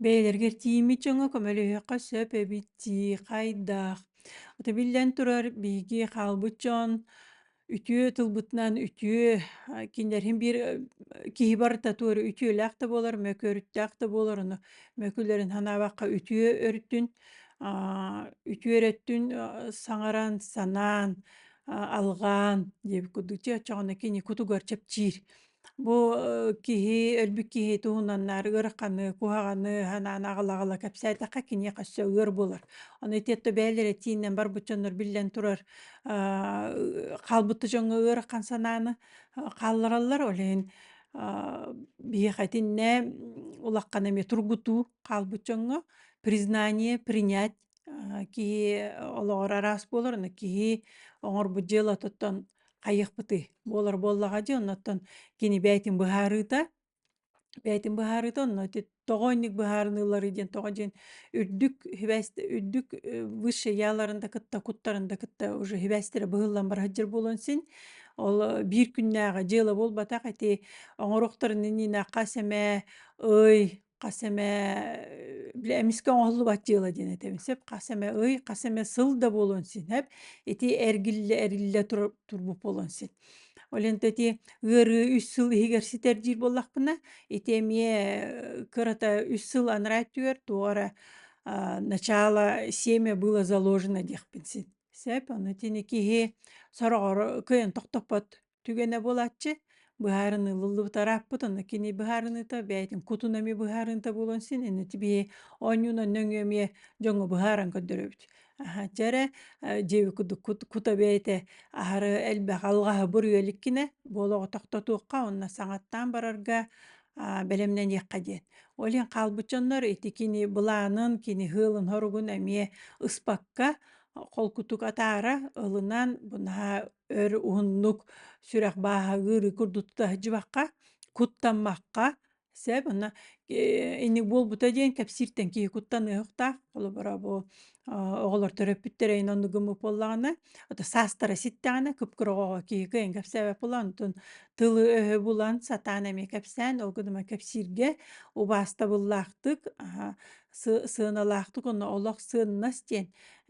Бэйэлэргэ тиийиммит дьоҥҥо көмөлөһүөххэ сөп эбит дии, хайдах? Ото биллэн турар, биһиги хаалбыт дьон үтүө тылбытынан үтүө, а, кинилэрин биир э, киһи барыта туора үтүөлээх да буолар, мөкүөрүттээх да буолар, ону мөкүлэрин санаабакка үтүө өртүн, аа, үтүө өрөттүн э, саҥаран, санаан, а, алҕаан диэбит курдук, дьэ оччоҕуна кини кутугар чэпчиир. Бу э, киһи өлбүт киһи туһунан наар ыараханы, куһаҕаны санаан аҕала-аҕала кэпсээтэххэ киниэхэ өссө ыар булар. Ону итиэтте бэйэлэр этииннэн барбыт дьоннор биллэн турар аа, хаалбыт дьоҥҥо ыарахан санааны а, хааллараллар. Ол иһин а, биһиэхэ итиннэ улаххан эмиэ тургутуу хаалбыт дьоҥҥо признание, принять киһи олоҕор араас буолар аны киһи оҥорбут дьыалатыттан хайыахпытый буолар буоллаҕа дии оннуттан кини бэйэтин быһаарыыта бэйэтин быһаарыыта онно тоҕоонньук быһаарыныылары диэн тоҕо диэн үрдүк хибээсте үрдүк высший яаларын да кытта куттарын да кытта уже хибээстэрэ быһыллан бара сылдьар буолан син ол биир күннээҕи дьыала буолбатах ити оҥоруохтарын иннинэ хас эмэ ый хас эмэ били эмискэ оҥоһуллубат дьыала диэн этэбин сөп хас эмэ ый хас эмэ сыл да буолуон синэп ити эргиллэ эриллэ тур турбут буолуон син ол интэ ити ыарыы үс сыл иһигэр ситэрдиир буоллахпына ити эмиэ кырата үс сыл анараа өттүгэр туох эрэ начало семя было заложено диэхпин син сөп ону итини киһи сороҕор кыайан тохтоппот түгэнэ буолааччы быһаарыныы ылыллыбыт арааппыт онно кини быһаарыныыта бэйэтин кутун эмиэ быһаарыныыта буолуон син инно тибии оонньууну нөҥүө эмиэ дьоҥҥо быһааран көрдөрөбүт дьэ эрэ дьиэби кута бэйэтэ аһары элбэх алҕаһы буруйа иликкинэ буолаҕы тохтотуохха онно саҥаттаан барарга бэлэмнэниэххэ диэн ол иһин хаалбыт дьоннор ити кини былаанын кини һыылын хоругун эмиэ ыспакка холкутук атаара ылынан бу наһаа өр уһуннук сүрэх бааһагыыры курдутта сыдьыбахха, куттаммакка сеп онно инник буолбута диэн кэпсииртэн киһи куттаныахтаах холобура бу оҕолор төрөппүттэрэ ин оннук гыммыт буоллаҕына ото саастара ситтэҕинэ кып-кыраҕаҕа киһи кыайан кэпсээбэт буолан онтун тылы-өһү булан сатаан эмиэ кэпсээн ол гына кэпсииргэ убаастабыллаахтык сыаналаахтык онно олох сыаннас диэн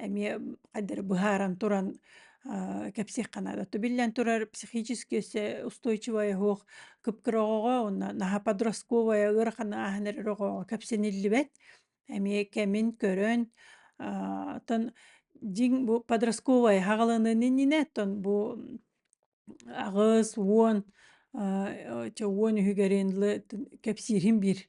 эмиэ хайдары быһааран туран кэпсиэххэ наада то биллэн турар психически өссө устойчивая оһох кыпкыроҕоҕо уонна наһаа подростковая ыарахан ааһан эрэр оҕоҕо кэпсэниллибэт эмиэ кэмин көрөн оттон дьиҥ бу подростковая хаҕаланыан иннинэ оттон бу аҕыс уон уон үһүгэрин кэпсиирин биир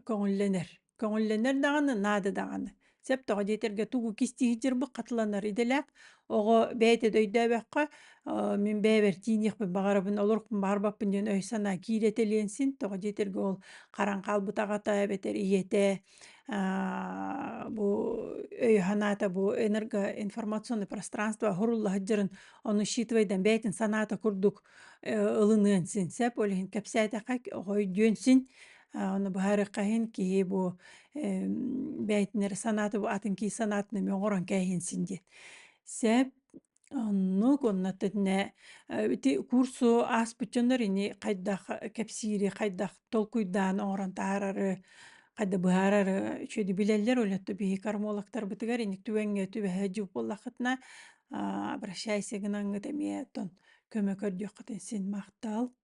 көҥүллэнэр көҥүллэнэр даҕаны наада даҕаны сөп тоҕо диэтэргэ тугу кистии сылдьарбыт хатыланар идэлээх оҕо бэйэтэ да өйдөөбөккө мин бэйэбэр тиийиэхпин баҕарабын олорукпун баҕарбаппын диэн өй-санаа киирэтэ илиэн син тоҕо диэтэргэ ол харан хаалбыт аҕата эбэтэр ийэтэ бу өй-санаата бу энерго информационный пространство сурулла сылдьарын ону учитывайдан бэйэтин санаата курдук ылыныан син сөп ол иһин кэпсээтэххэ оҕо өйдүөн син Оны быһаарыахха иһин киһи бу бэйтинер санаата бу атын киһи санаатын эмиэ оҥорон кээһин син диэн. Сеп оннук онно тэтинэ ити курсу ааспыт дьоннор ини хайдах кэпсиири, хайдах толкуйдаан оҥорон таһаарары, хайда быһаарары үчүгэйдик билэллэр олетто биһи кормологтарбытыгар иник түгэҥҥэ түбэһэ дьук буоллаххытына обращайся гынаҥҥыт эмиэ оттон көмө көрдүөххүтүн син махтал.